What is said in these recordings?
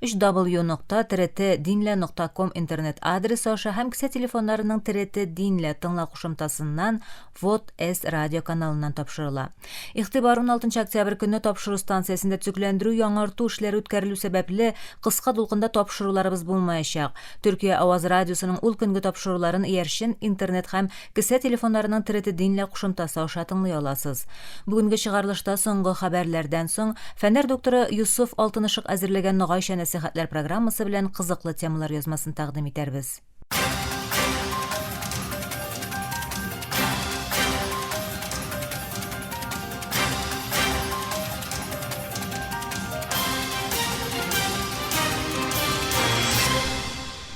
ww нокта trt динлә нокта ком интернет адресы аша һәм кесә телефоннарының trt динлә тыңла кушымтасыннан вот с радио каналыннан тапшырыла. Игътибар 16 октябрь көнне тапшыру станциясендә төзекләндерү яңарту эшләре үткәрелү сәбәпле кыска дулкында тапшыруларыбыз булмаячак. Төркия Аваз радиосының ул көнге тапшыруларын иярчен интернет һәм Кесә телефоннарының треты динлә кушымтасы аша тыңлый аласыз. Бүгенге чыгарылышта соңгы хәбәрләрдән соң, фәннәр докторы Йосыф Алтынышык әзерләгән Ногайча нәсыйхәтләр программасы белән кызыклы темалар язмасын тәкъдим итәрбез.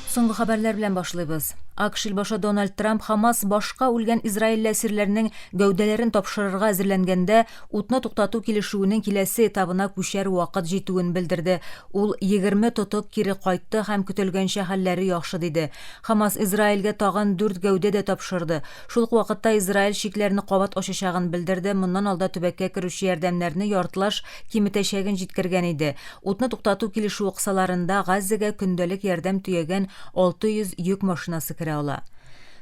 Соңгы хәбәрләр белән башлыйбыз. АКШ илбашы Дональд Трамп Хамас башка үлгән израильле әсирләрнең гәүдәләрен тапшырырга әзерләнгәндә, утны туктату килешүенең киләсе этабына күчәр вакыт җитүен белдерде. Ул, Егерме тотык кире кайтты һәм көтелгәнчә хәлләре яхшы, диде. Хамас Израильгә тагын дүрт гәүдә дә тапшырды. Шул ук вакытта Израиль чикләрне кабат ачачагын белдерде, моннан алда төбәккә керүче ярдәмнәрне яртылаш киметәчәген җиткергән иде. Утны туктату килешүе кысаларында Газзәгә көндәлек ярдәм төягән 600 йөк машинасы керә ала.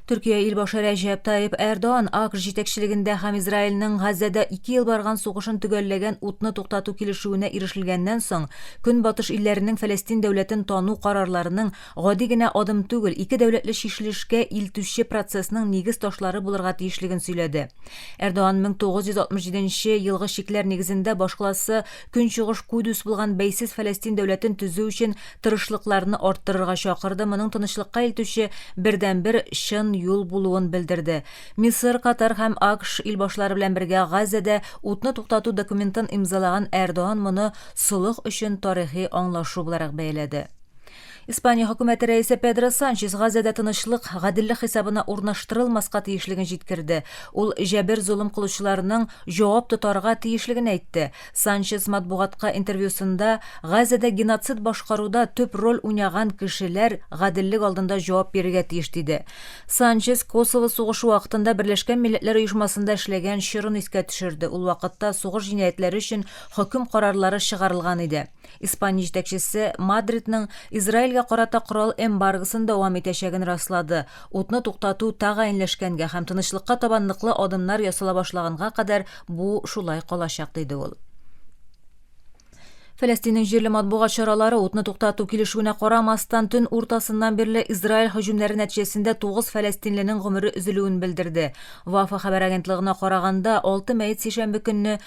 Төркия илбашы Рәҗәп Таип Эрдоан АКШ җитәкчелегендә һәм Израильнең Газзәдә ике ел барган сугышын төгәлләгән утны туктату килешүенә ирешелгәннән соң, Көнбатыш илләренең Фәләстин дәүләтен тану карарларының гади генә адым түгел, ике дәүләтле чишелешкә илтүче процессның нигез ташлары булырга тиешлеген сөйләде. Эрдоан 1967 елгы чикләр нигезендә башкаласы Көнчыгыш Кудүс булган бәйсез Фәләстин дәүләтен төзү өчен тырышлыкларны арттырырга чакырды, моның тынычлыкка илтүче бердәнбер чын юл булуын белдерде. Мисыр, Катар һәм АКШ илбашлары белән бергә Газәдә утны туктату документын имзалаган Эрдоан моны солых өчен тарихи аңлашу буларак бәяләде. Испания хөкүмәте рәисе Педро Санчес Газәдә тынычлык, гаделлек хисабына урнаштырылмаска тиешлеген җиткерде. Ул җәбер золым кылучыларның җавап тотарга тиешлеген әйтте. Санчес матбугатка интервьюсында Газәдә геноцид башкаруда төп роль уйнаган кешеләр гаделлек алдында җавап бирергә тиеш диде. Санчес Косово сугышы вакытында Берләшкән милләтләр оешмасында эшләгән чорын искә төшерде, ул вакытта сугыш җинаятьләре өчен хөкем карарлары чыгарылган иде. Испания җитәкчесе Мадридның Израильгә карата корал эмбаргосын дәвам итәчәген раслады, утны туктату тәгаенләшкәнгә һәм тынычлыкка таба ныклы адымнар ясала башлаганга кадәр бу шулай калачак, диде ул. Фәләстиннең җирле матбугат чаралары утны туктату килешүенә карамастан, төн уртасыннан бирле Израиль һөҗүмнәре нәтиҗәсендә 9 фәләстинленең гомере өзелүен белдерде. Вафа хәбәр агентлыгына караганда, 6 мәет сишәмбе көнне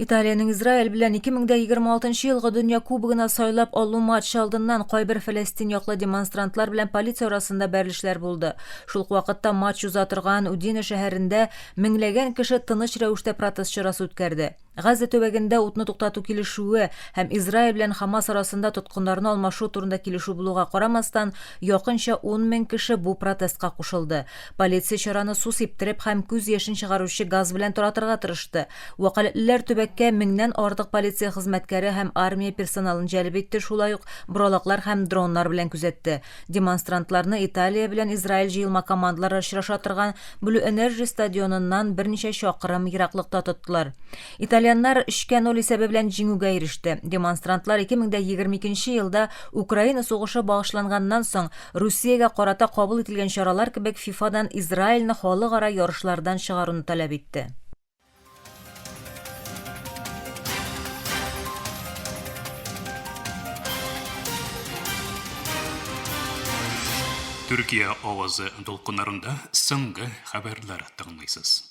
Италиянең Израиль белән 2026 елгы дөнья кубогына сайлап алу матчы алдыннан кайбер фәләстин яклы демонстрантлар белән полиция арасында бәрелешләр булды. Шул ук вакытта матч уза торган Удине шәһәрендә меңләгән кеше тыныч рәвештә протест чарасы үткәрде. Газа төбәгендә утны туктату килешүе һәм Израиль белән Хамас арасында тоткыннарны алмашу турында килешү булуга карамастан, якынча 10 мең кеше бу протестка кушылды. Полиция чараны су сиптереп һәм күз яшен чыгаручы газ белән таратырга тырышты. Вәкаләтлеләр төбәккә меңнән артык полиция хезмәткәре һәм армия персоналын җәлеп итте, шулай ук боралаклар һәм дроннар белән күзәтте. Демонстрантларны Италия белән Израиль җыелма командалары очраша торган Blue Energy стадионыннан берничә чакрым ераклыкта тоттылар. Итальяннар 3-кә 0 исәбе белән җиңүгә иреште. Демонстрантлар 2022 елда Украина сугышы багышланганнан соң Русиягә карата кабул ителгән чаралар кебек ФИФАдан Израильне халыкара ярышлардан чыгаруны таләп итте. Төркия авазы дулкыннарында соңгы хәбәрләр тыңлыйсыз.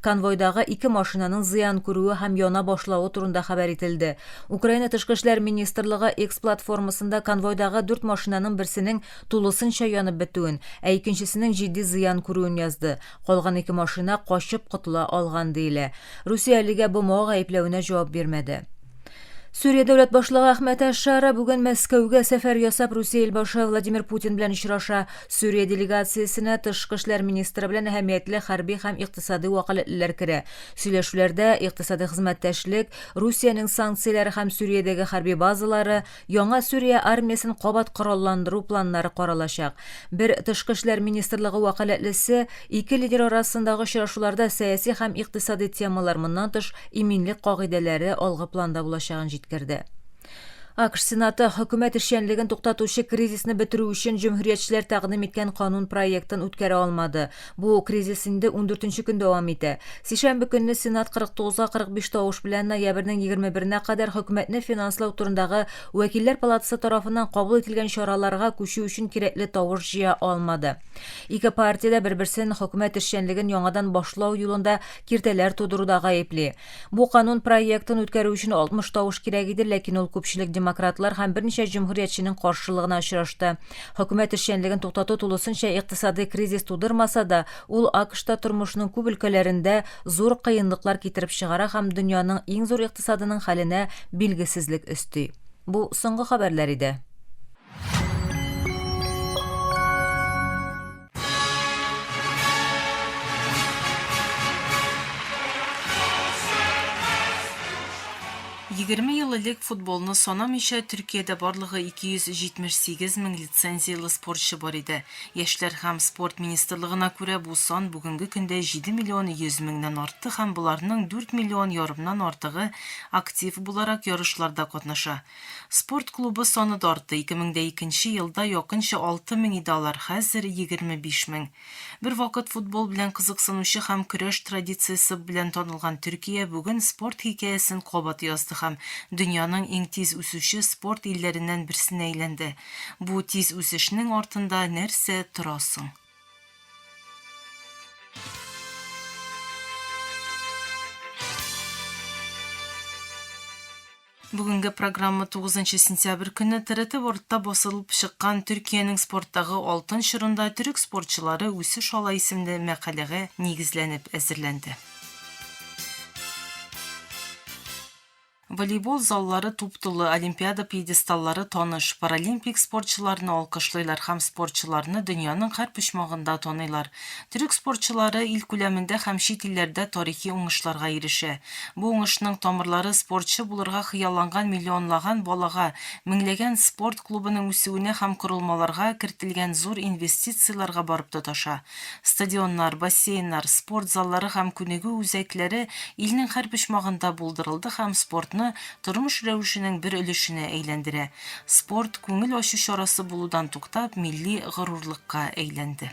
Конвойдагы ике машинаның зыян күрүе һәм яна башлавы турында хәбәр ителде. Украина Тышкы эшләр министрлыгы X платформасында конвойдагы дүрт машинаның берсенең тулысынча янып бетүен, ә икенчесенең җитди зыян күрүен язды. Калган ике машина качып котыла алган диелә. Русия әлегә БМО гаепләвенә җавап бирмәде. Сүрия дәүләт башлыгы Әхмәт Әшара бүген Мәскәүгә сәфәр ясап Русия илбашы Владимир Путин белән очраша. Сүрия делегациясенә тышкы эшләр министры белән әһәмиятле хәрби һәм икътисади вәкаләтлеләр керә. Сөйләшүләрдә икътисади хезмәттәшлек, Русиянең санкцияләре һәм Сүриядәге хәрби базалары, Яңа Сүрия армиясен кабат коралландыру планнары каралачак. Бер тышкы эшләр министрлыгы вәкаләтлесе, Ике лидер арасындагы очрашуларда сәяси һәм икътисадый темалар, моннан тыш, иминлек кагыйдәләре алгы планда булачагын җиткерде. АКШ Сенаты хөкүмәт эшчәнлеген туктатучы кризисны бетерү өчен җөмһүриятчеләр тәкъдим иткән канун проектын үткәрә алмады. Бу кризис инде ундүртенче көн дәвам итә. Сишәмбе көнне Сенат 49га 45 тавыш белән ноябрьнең егерме беренә кадәр Хөкүмәтне финанслау турындагы Вәкилләр палатасы тарафыннан кабул ителгән чараларга күчү өчен кирәкле тавыш җыя алмады. Ике партия дә бер-берсен хөкүмәт эшчәнлеген яңадан башлау юлында киртәләр тудыруда гаепли. Бу канун проектын үткәрү өчен 60 тавыш кирәк иде, ләкин ул күпчелек демократлар һәм берничә җөмһүриятченең каршылыгына очрашты. Хөкүмәт эшчәнлеген туктату тулысынча икътисадый кризис тудырмаса да, ул АКШта тормышның күп өлкәләрендә зур кыенлыклар китереп чыгара һәм дөньяның иң зур икътисадының хәленә билгесезлек өсти. Бу соңгы хәбәрләр иде. Егерме ел элек футболны санамыйча Төркиядә барлыгы 278 мең лицензияле спортчы бар иде. Яшьләр һәм спорт министрлыгына күрә бу сан бүгенге көндә 7 миллион 100 меңнән артты һәм боларның 4 миллион ярымнан артыгы актив буларак ярышларда катнаша. Спорт клубы саны да артты, ике мең дә икенче елда якынча алты мең иде алар, хәзер, егерме биш мең. Бервакыт футбол белән кызыксынучы һәм көрәш традициясе белән танылган Төркия бүген спорт хикәясен кабат язды һәм дөньяның иң тиз үсүче спорт илләреннән берсенә әйләнде. Бу тиз үсешнең артында нәрсә тора соң? Бүгенге программа тугызынчы сентябрь көнне ТРТ Вордта басылып чыккан Төркиянең спорттагы алтын чорында төрек спортчылары үсеш ала исемле мәкаләгә нигезләнеп әзерләнде. Волейбол заллары туп-тулы, олимпиада пьедесталлары таныш, паралимпик спортчыларны алкышлыйлар һәм спортчыларны дөньяның һәр почмагында таныйлар. Төрек спортчылары ил күләмендә һәм чит илләрдә тарихи уңышларга ирешә. Бу уңышның тамырлары спортчы булырга хыялланган миллионлаган балага, меңләгән спорт клубының үсүенә һәм корылмаларга кертелгән зур инвестицияләргә барып тоташа. Стадионнар, бассейннар, спорт заллары һәм күнегү үзәкләре илнең һәр почмагында булдырылды һәм спортны тормыш рәвешенең бер өлешенә әйләндерә. Спорт, күңел ачу чарасы булудан туктап, милли горурлыкка әйләнде.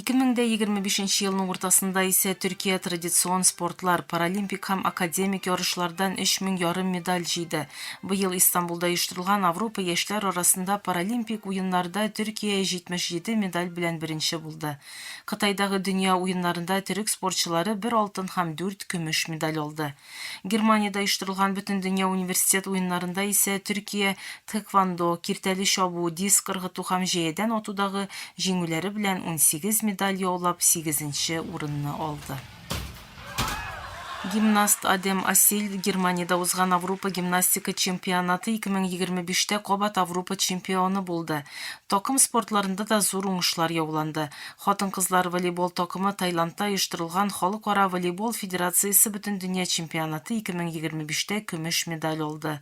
Ике мең дә егерме бишенче елның уртасында исә Төркия традицион спортлар, паралимпик һәм академик ярышлардан өч мең ярым медаль җыйды. Быел Истанбулда оештырылган Авропа яшьләр арасында паралимпик уеннарда Төркия җитмеш җиде медаль белән беренче булды. Кытайдагы дөнья уеннарында төрек спортчылары бер алтын һәм дүрт көмеш медаль алды. Германиядә оештырылган Бөтендөнья университет уеннарында исә Төркия тхэквондо, киртәле чабу, диск ыргыту һәм җәядән атудагы җиңүләре белән унсигез медаль яулап, сигезенче урынны алды. Гимнаст Адем Асиль Германиядә узган Аврупа гимнастика чемпионаты 2025 тә кабат Аврупа чемпионы булды. Такым спортларында да зур уңышлар яуланды. Хатын-кызлар волейбол такымы Таиландта оештырылган Халыкара волейбол федерациясе Бөтендөнья чемпионаты 2025-тә көмеш медаль алды.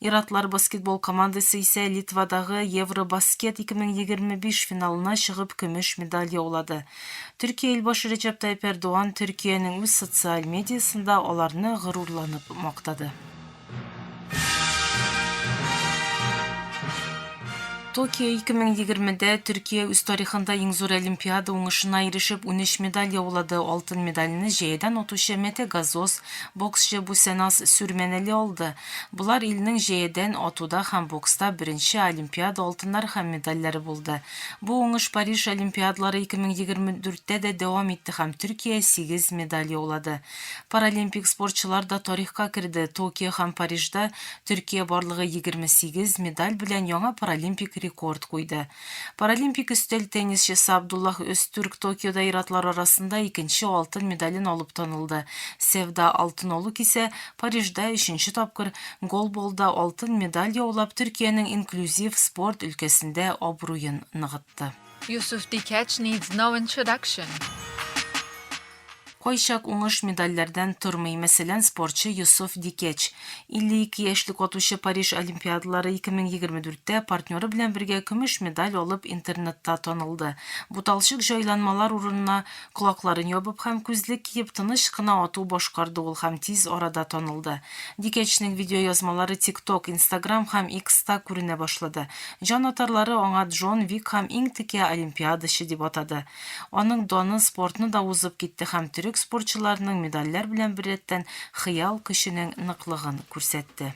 Ир-атлар баскетбол командасы исә Литвадагы Евробаскет 2025 финалына чыгып көмеш медаль яулады. Төркия илбашы Рәҗәп Тайип Эрдоган Төркиянең үз социаль медиасында аларны горурланып мактады. Токио 2020-дә Төркия үз тарихында иң зур олимпиада уңышына ирешеп, 13 медаль яулады. Алтын медальне җәядән атучы Мете Газоз, боксчы Бусенас Сүрмәнәли алды. Болар илнең җәядән атуда һәм бокста беренче олимпиада алтыннары һәм медальләре булды. Бу уңыш Париж олимпиадалары 2024-тә дә дәвам итте һәм Төркия сигез медаль яулады. Паралимпик спортчылар да тарихка керде, Токио һәм Парижда Төркия барлыгы 28 медаль белән яңа паралимпик рекорд куйды. Паралимпик өстәл теннисчысы Абдуллах Өзтүрк Токиода ир-атлар арасында икенче алтын медален алып танылды, Севда, алтын олуг исә Парижда өченче тапкыр, голболда алтын медаль яулап Төркиянең инклюзив спорт өлкәсендә абруен ныгытты. Yusuf Dikach needs no introduction. Кайчак уңыш медальләрдән тормый, мәсәлән, спортчы Йосыф Дикеч. 52 яшьлек атучы Париж Олимпиадалары 2024-тә партнеры белән бергә көмеш медаль алып интернетта танылды. Буталчык җайланмалар урынына колакларын ябып һәм күзлек киеп тыныч кына ату башкарды ул һәм тиз арада танылды. Дикәчнең видеоязмалары TikTok, Instagram һәм X-та күренә башлады. Җанатарлары аңа Джон Вик һәм иң текә олимпиадачы дип атады. Аның даны спортны да узып китте һәм төрек спортчыларының медальләр белән беррәттән хыял көченең ныклыгын күрсәтте.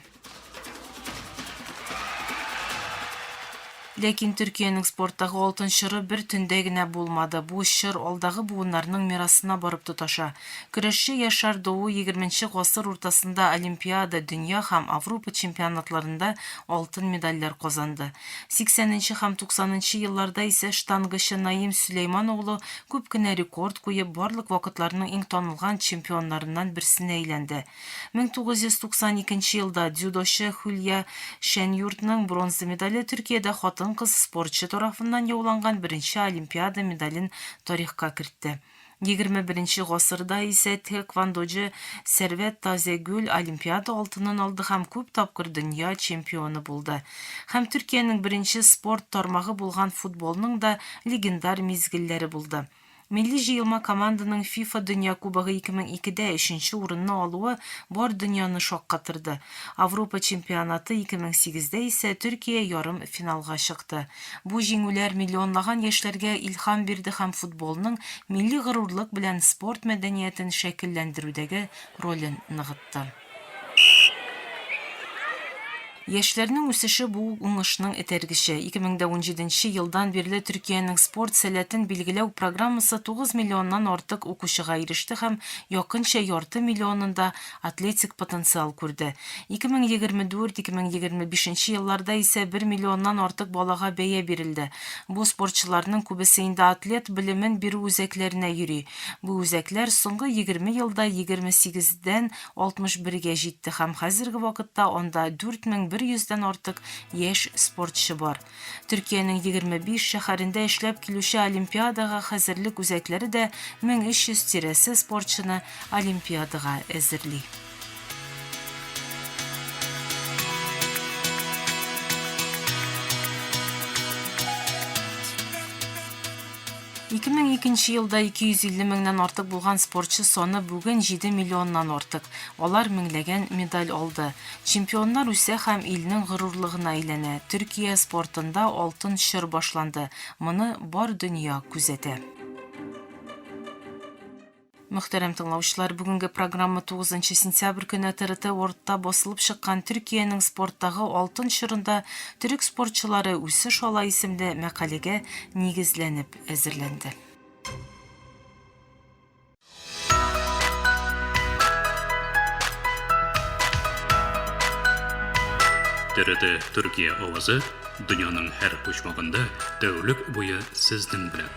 Ләкин Төркиянең спорттагы алтын чоры бер төндә генә булмады, бу чор алдагы буыннарның мирасына барып тоташа. Көрәшче Яшар Дуу егерменче гасыр уртасында Олимпиада, дөнья һәм Аврупа чемпионатларында алтын медальләр казанды. Сиксәненче һәм туксанынчы елларда исә штангачы Наим Сөләйман улы күп кенә рекорд куеп, барлык вакытларның иң танылган чемпионнарыннан берсенә әйләнде. 1992 елда дзюдочы Хөлия Шәньюртның бронза медале Төркиядә хатын-кыз спортчы тарафыннан яуланган беренче Олимпиада медален тарихка кертте. XXI гасырда исә тхэквондочы Сәрвәт Тазегөл Олимпиада алтынын алды һәм күп тапкыр дөнья чемпионы булды. Һәм Төркиянең беренче спорт тармагы булган футболның да легендар мизгелләре булды. Милли җыелма команданың ФИФА Дөнья Кубогы 2002-дә өченче урынны алуы бар дөньяны шаккатырды. Авропа чемпионаты 2008-дә исә Төркия ярым финалга чыкты. Бу җиңүләр миллионлаган яшьләргә илһам бирде һәм футболның милли горурлык белән спорт мәдәниятен шәкелләндерүдәге ролен ныгытты. Яшьләрнең үсеше бу уңышның этәргече. 2017 нче елдан бирле Төркиянең спорт сәләтен билгеләү программасы 9 миллионнан артык укучыга иреште һәм якынча ярты миллионында атлетик потенциал күрде. 2024-2025 елларда исә бер миллионнан артык балага бәя бирелде. Бу спортчыларның күбесе инде атлет белемен бирү үзәкләренә йөри. Бу үзәкләр соңгы егерме елда егерме сигездән алтмыш бергә җитте һәм хәзерге вакытта анда дүрт мең бер йөздән артык яшь спортчы бар. Төркиянең егерме биш шәһәрендә эшләп килүче олимпиадага хәзерлек үзәкләре дә мең өч йөз тирәсе спортчыны олимпиадага әзерли. Ике мең икенче елда 250 меңнән артык булган спортчы саны бүген 7 миллионнан артык. Алар меңләгән медаль алды. Чемпионнар үсә һәм илнең горурлыгына әйләнә. Төркия спортында алтын чор башланды. Моны бар дөнья күзәтә. Мөхтәрәм тыңлаучылар, бүгенге программа 9 нчы сентябрь көне ТРТ Worldта басылып чыккан Төркиянең спорттагы алтын чорында төрек спортчылары үсеш ала исемле мәкаләгә нигезләнеп әзерләнде. ТРТ Төркия авазы дөньяның һәр почмагында тәүлек буе сезнең белән.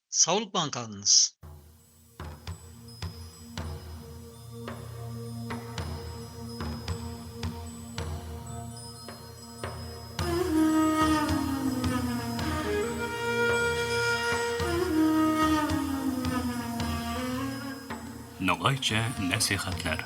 Саулыкман калыңыз! Ногайча нәсыйхәтләр.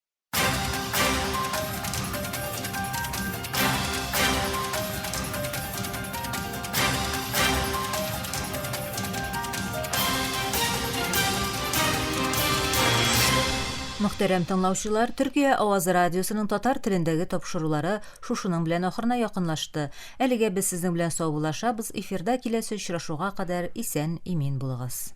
Мөхтәрәм тыңлаучылар, Төркия Авазы радиосының татар телендәге тапшырулары шушының белән ахырына якынлашты. Әлегә без сезнең белән саубуллашабыз, эфирда киләсе очрашуга кадәр исән-имин булыгыз.